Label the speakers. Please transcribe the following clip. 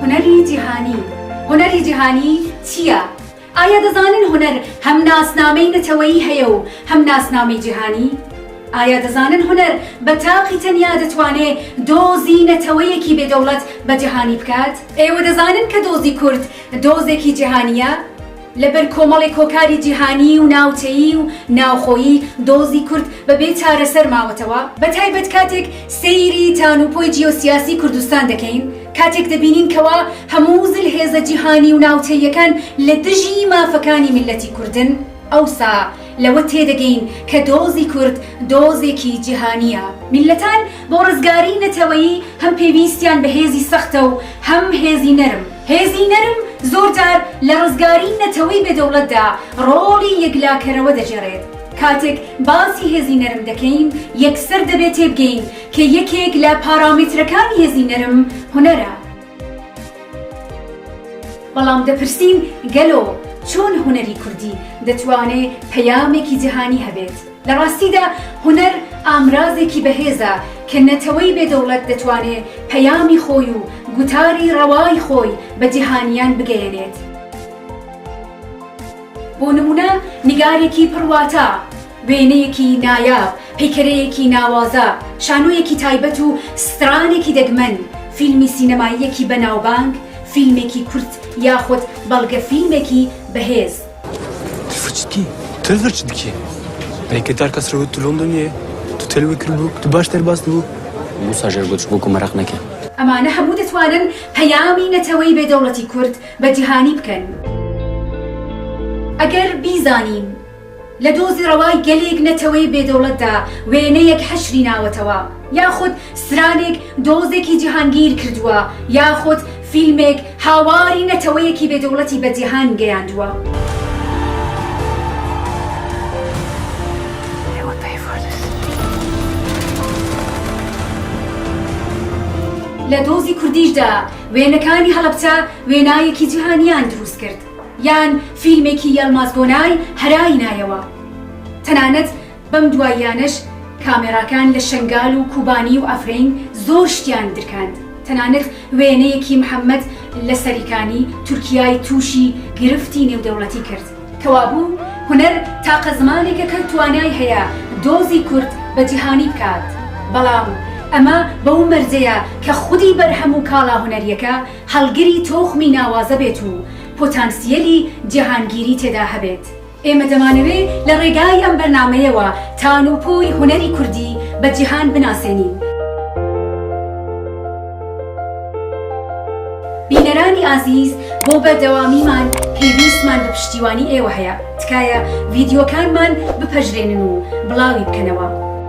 Speaker 1: هونەری جیهانی، هونەری جیهانی چییە؟ ئایا دەزانن هونەر هەم ناسنامەی نەتەوەیی هەیە و هەم ناسنامەی جیهانی؟ ئایا دەزانن هونەر بە تاقی تەنیا دەتوانێ دۆزی نەتەوەیەکی بێ دەوڵەت بە جیهانی بکات؟ ئێوە دەزانن کە دۆزی کورد دۆزێکی جیهانییە؟ لە بەر کۆمەڵێک هۆکاری جیهانیی و ناوچەیی و ناوخۆیی دۆزی کورد بە بێ چارەسەر ماوەتەوە، بە تایبەت کاتێک سەیری تانوپۆی جیۆسیاسیی کوردستان دەکەین، کاتێک دەبینین کەوا هەموو زلهێزە جیهانیی و ناوچەییەکان لە دژی مافەکانی میللەتی کوردن، ئەوسا لەوە تێدەگەین کە دۆزی کورد دۆزێکی جیهانییە. میللەتان بۆ ڕزگاریی نەتەوەیی هەم پێویستیان بە هێزی سەختە و هەم هێزی نەرم. هێزی نەرم زۆر جار لە ڕزگاری نەتەوەی بێ دەوڵەتدا ڕۆڵی یەکلاکەرەوە دەگێڕێت. کاتێک باسی هێزی نەرم دەکەین، یەکسەر دەبێ تێبگەین کە یەکێک لە پارامێترەکانی هێزی نەرم هونەرە. بەڵام دەپرسین گەلۆ چۆن هونەری کوردی دەتوانێ پەیامێکی جەهانی هەبێت؟ لە ڕاستیدا هونەر ئامرازێکی بەهێزە کە نەتەوەی بێ دەوڵەت دەتوانێ پەیامی خۆی و گوتاری ڕەوای خۆی بە جیهانیان بگەیەنێت. بۆ نموونە نیگارێکی پڕ واتا، وێنەیەکی نایاب، پەیکەرەیەکی ناوازە، شانۆیەکی تایبەت و سترانێکی دەگمەن، فیلمی سینەماییەکی بەناوبانگ، فیلمێکی کورت یاخود بەڵگەفیلمێکی بەهێز. تفچکی
Speaker 2: تفچ دکی ئەیکە تار کەس رەوت تلۆم دنیێ تو تەلوی کرد بوو تو باش تەرباس بوو موسا ژێر گوچ
Speaker 3: بوو گومەرەق نەکرد. ئەمانە هەموو
Speaker 1: دەتوانن پەیامی نەتەوەی بێ دەوڵەتی کورد بە جیهانی بکەن. ئەگەر بیزانین لە دۆزی ڕەوای گەلێک نەتەوەی بێ دەوڵەتدا وێنەیەک حەشری ناوەتەوە یاخود سرانێک دۆزێکی جیهانگیر کردووە یاخود فیلمێک هاواری نەتەوەیەکی بێ دەوڵەتی بە جیهان گەیاندووە. لە دۆزی کوردیشدا وێنەکانی هەڵەبچە وێنایەکی جیهانیان دروست کرد یان فیلمێکی یەڵماز گۆنای هەرای نایەوە تەنانەت بەم دواییانەش کامێراکان لە شەنگال و کوبانی و عەفرین زۆر شتیان درکاند، تەنانەت وێنەیەکی محەمەد لە سەریکانی تورکیای تووشی گرفتی نێودەوڵەتی کرد. کەوابوو هونەر تاقە زمانێکە کە توانای هەیە دۆزی کورد بە جیهانی بکات، بەڵام ئەمە بەو مەرجەیە کە خودی بەرهەم و کاڵا هونەرییەکە هەڵگری تۆخمی ناوازە بێت و پۆتانسییەلی جیهانگیری تێدا هەبێت. ئێمە دەمانەوێ لە ڕێگای ئەم بەرنامەیەوە تان و پۆی هونەری کوردی بە جیهان بناسێنین. بینەرانی ئازیز بۆ بەردەوامیمان پێویستمان بە پشتیوانی ئێوە هەیە، تکایە ڤیدیۆکانمان بپەژرێنن و بڵاوی بکەنەوە.